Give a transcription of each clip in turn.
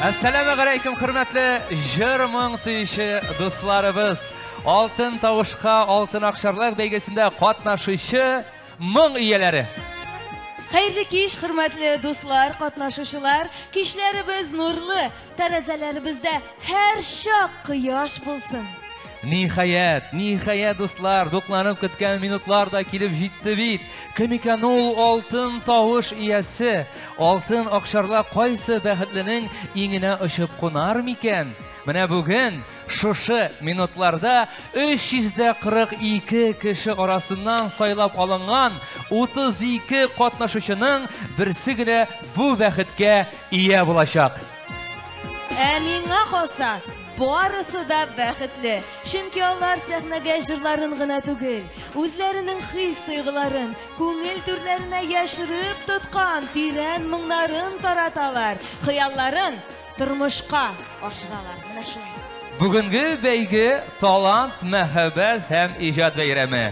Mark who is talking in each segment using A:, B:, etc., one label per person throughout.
A: Әссәләмә гәләйкем, хөрмәтле җыр-моң сөюче дусларыбыз. Алтын тавышка, алтын акчарлар бәйгесендә катнашучы моң ияләре. Хәерле кич, хөрмәтле дуслар, катнашучылар. Кичләребез нурлы, Тәрәзәләребездә һәр чак кояш булсын. Ниһаять, ниһаять, дуслар, дукланып көткән минутлар да килеп җитте бит. Кем икән ул алтын тавыш иясе? Алтын акшарла кайсы бәхетленең иңенә очып кунар микән? Менә бүген шушы минутларда 342 кеше арасыннан сайлап алынган 32 катнашучының берсе генә бу бәхеткә Ия булачак. Ә миңа калса, барысы да бәхетле. Чөнки алар сәхнәгә җырларын гына түгел, үзләренең хис-тойгыларын, күңел түрләренә яшереп тоткан тирән моңнарын тараталар, хыялларын тормышка ашыралар. Менә шулай. Бүгенге бәйге талант, мәхәббәт һәм иҗат бәйрәме.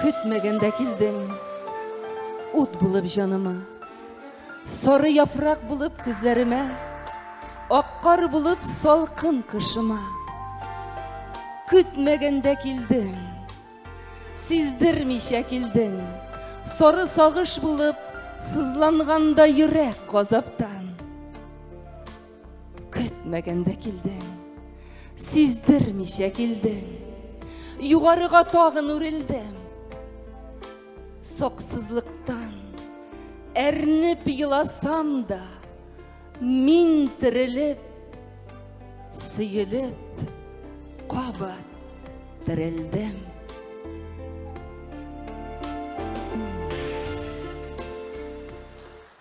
A: Көтмәгәндә килдең ут булып җаныма Сары яфрак булып күзләремә Ак кар булып салкын кышыма Көтмәгәндә килдең Сиздермичә килдең Сары сагыш булып Сызланганда йөрәк газаптан көтмәгәндә килдең сиздермичә килдең югарыга тагын үрелдем саксызлыктан әрнеп еласам да мин терелеп сөелеп кабат терелдем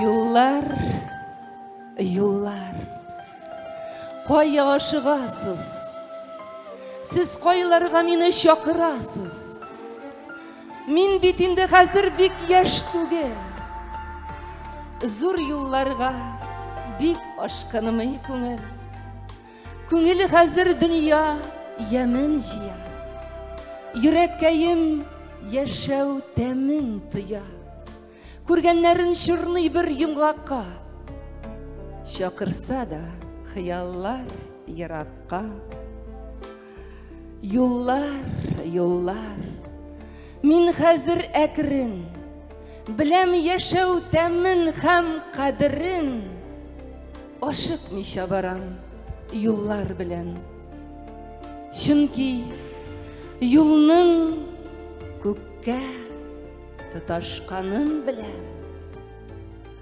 A: Юллар, юллар. Кая ашыгасыз? Сез кайларга мине чакырасыз? Мин бит инде хәзер бик яшь түгел. Зур юлларга бик ашкынмый күңел. Күңел хәзер дөнья ямен җыя. Йөрәккәем яшәү тәмен тоя. Күргәннәрен чорный бер йомгакка. Чакырса да хыяллар еракка. Юллар, юллар. Мин хәзер әкрен. Беләм яшәү тәмен һәм кадерен. Ашыкмыйча барам юллар белән. Чөнки юлның күккә тоташканын беләм.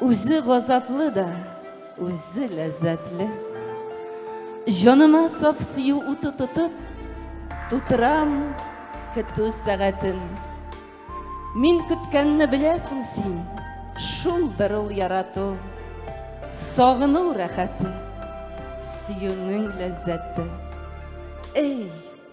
A: Үзе газаплы да, үзе ләззәтле. Җаныма саф сөю уты тотып, тутырам көтү сәгатен. Мин көткәнне беләсең син, шулдыр ул ярату, сагыну рәхәте, сөюнең ләззәте. Эй!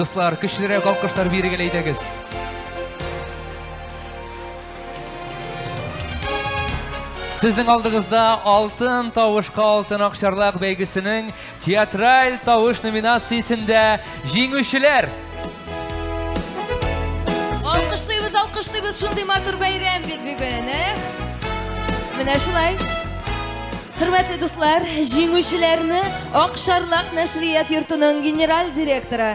A: Дуслар, көчлерәк алкыштар бирегеләйдегез. Сезнең алдыгызда алтын тавышка алтын акчарлак бәйгесенең Театраль тавыш номинациясендә җиңүчеләр! Алкышлыйбыз, алкышлыйбыз, шундый матур бәйрәм бит бүген, ә? Менә шулай. Хөрмәтле дуслар, җиңүчеләрне Акшарлак нәшрият йортының генераль директоры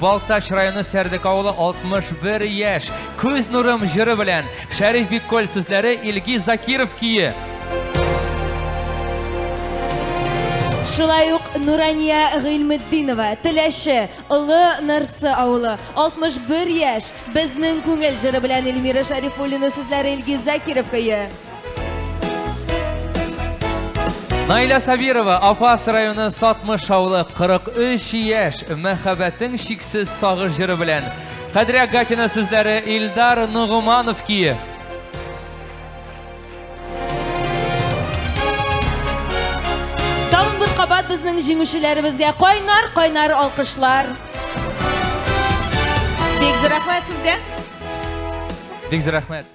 A: Балтач районы Сәрдек авылы 61 яшь. Күз нурым җыры белән Шәриф Бикколь сүзләре Илгиз Закиров көе. Шулай ук Нурания Гыйлметдинова, Теләше, Олы Нырсы авылы, 61 яшь, безнең күңел җыры белән Эльмира Шарифуллина сүзләре Илгиз Закиров көе. Найля Сабирова, Афас районы Сатмыш авылы 43 яшь, мәхәббәтең шиксез сагыш җыры белән. Хәдрә Гатина сүзләре Илдар Нугуманов кие. Тагын бер кабат безнең җиңүчеләребезгә кайнар, кайнар алкышлар. Бик зирәхмәт сезгә. Бик зирәхмәт.